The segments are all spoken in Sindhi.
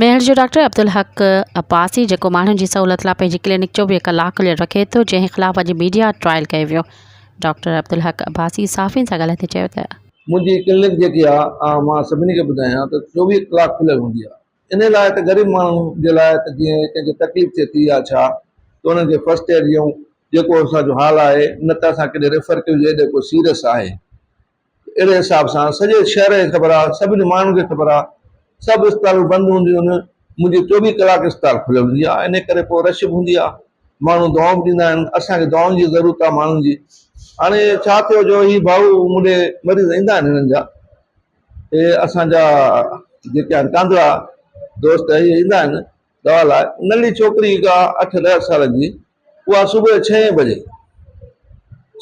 ميهڙ جو ڊاڪٽر عبدالحق عباسي جيڪو ماڻهن جي سهولت لاء پنهنجي ڪلينڪ چوويهه ڪلاڪ کليل رکي ٿو جنهن خلاف اڄ ميڊيا ٽرائل ڪيو ويو ڊاڪٽر عبدالحق عباسي صحافين سان ڳالهائيندي چيو ته. منهنجي ڪلينڪ جيڪي آهي مان سڀني کي ٻڌايان ته چوويهه ڪلاڪ کليل هوندي آهي انهي لاء ته غريب ماڻهن جي لاء ته جيئن ڪنهن کي تڪليف ٿئي ٿي يا ڇا ته انهن کي فرسٽ ايڊ ڏيون جيڪو اسان جو حال آهي نه ته اسان ڪيڏي ريفر ڪيون جي ڪو سيريس آهي اهڙي حساب سان سڄي شهر کي خبر آ، سڀني ماڻهن کي خبر آ، سڀ اسپتالون بند هونديون آهن، منهنجي چوويهه ڪلاڪ اسپتال کليل هوندي آ، انهي ڪري پوء رش به هوندي آ، ماڻهو دعائون به ڏيندا آهن، اسان کي دعائن جي ضرورت آ ماڻهن جي، هاڻي ڇا ٿيو جو هي ڀائو مون ڏي مريض ايندا آهن هنن جا، هي اسان جا جيڪي آهن ڪانڌڙا دوست هي ايندا آهن دوا لاء، ننڍي ڇوڪري هڪ آ اٺ ڏهه سالن جي، اها صبح جو ڇهين بجي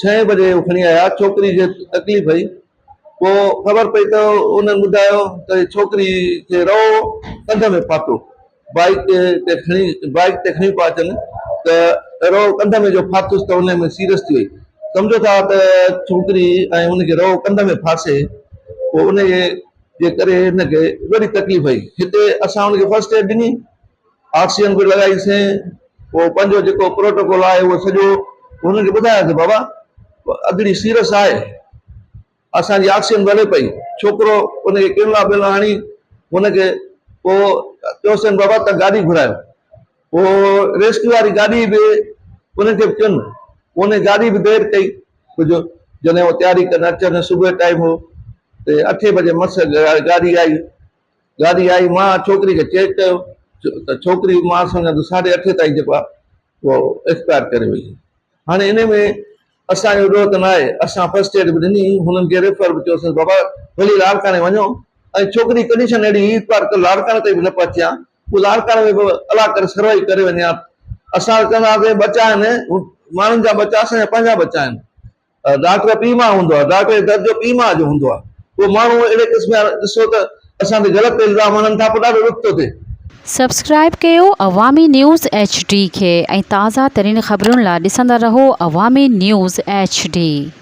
ڇهين بجي هو کڻي آيا ڇوڪري کي تڪليف هئي پوء خبر پئي ته انهن ٻڌايو ته ڇوڪري کي رئو ڪنڌ ۾ ڦاٿو بائيڪ تي کڻي بائيڪ تي کڻي پيا اچن ته رئو ڪنڌ ۾ جو ڦاٿس ته انهي ۾ سيريس ٿي وئي سمجهو ٿا ته ڇوڪري ۽ ان کي رئو ڪنڌ ۾ ڦاسي پوء انهي جي ڪري هن کي وڏي تڪليف هئي هتي اسان ان کي فرسٽ ايڊ ڏني آڪسيجن به لڳائي سين پوء پنهنجو جيڪو پروٽوڪول آهي اهو سڄو هنن کي ٻڌاياسين بابا ادڙي سيرس آهي اسان جي آڪسيجن به هلي پئي ڇوڪرو ان کي ڪينلا بينلا هڻي هن کي پوء چيوسين بابا ته گاڏي گهرايو پوء ريسڪيو واري گاڏي به انهن کي به ڪين انهي گاڏي به دير ڪئي جو جڏهن هو تياري ڪرڻ اچن صبح ٽائيم هو ته اٺي بجي مس گاڏي آئي ڳالهه اها آئي، مان ڇوڪري کي چيڪ ڪيو ته ڇوڪري مان سان گڏ ساڍي اٺي تائين جيڪو آهي اهو ايڪسپائر ڪري وئي آهي. هاڻي انهي ۾ اسان جو ڏوهه ته نه آهي، اسان فرسٽ ايڊ به ڏني، هنن کي ريفر به ڪيو، چيوسين بابا ڀلي لاڙڪاڻي وڃو ۽ ڇوڪري جي ڪنڊيشن اهڙي هئي هڪ بار لاڙڪاڻي تائين به نه پهچي ها، پوء لاڙڪاڻي ۾ به الله ڪري سروائيو ڪري وڃي ها، اسان ته چوندا هئاسين ٻچا آهن، ماڻهن جا ٻچا اسان جا پنهنجا ٻچا آهن. ڊاڪٽر پيء ماء هوندو آهي، ڊاڪٽر جي درد جو پيء ماء جو هوندو آهي، پوء ماڻهو اهڙي قسم جا ڏسو ته اسان تي غلط الزام هڻن ٿا پوء ڏاڍو ڏک ٿو ٿئي. سبسڪرائيب ڪيو عوامي نيوز ايڇ ڊي کي ۽ تازه ترين خبرن لا ڏسندا رهو عوامي نيوز ايڇ ڊي.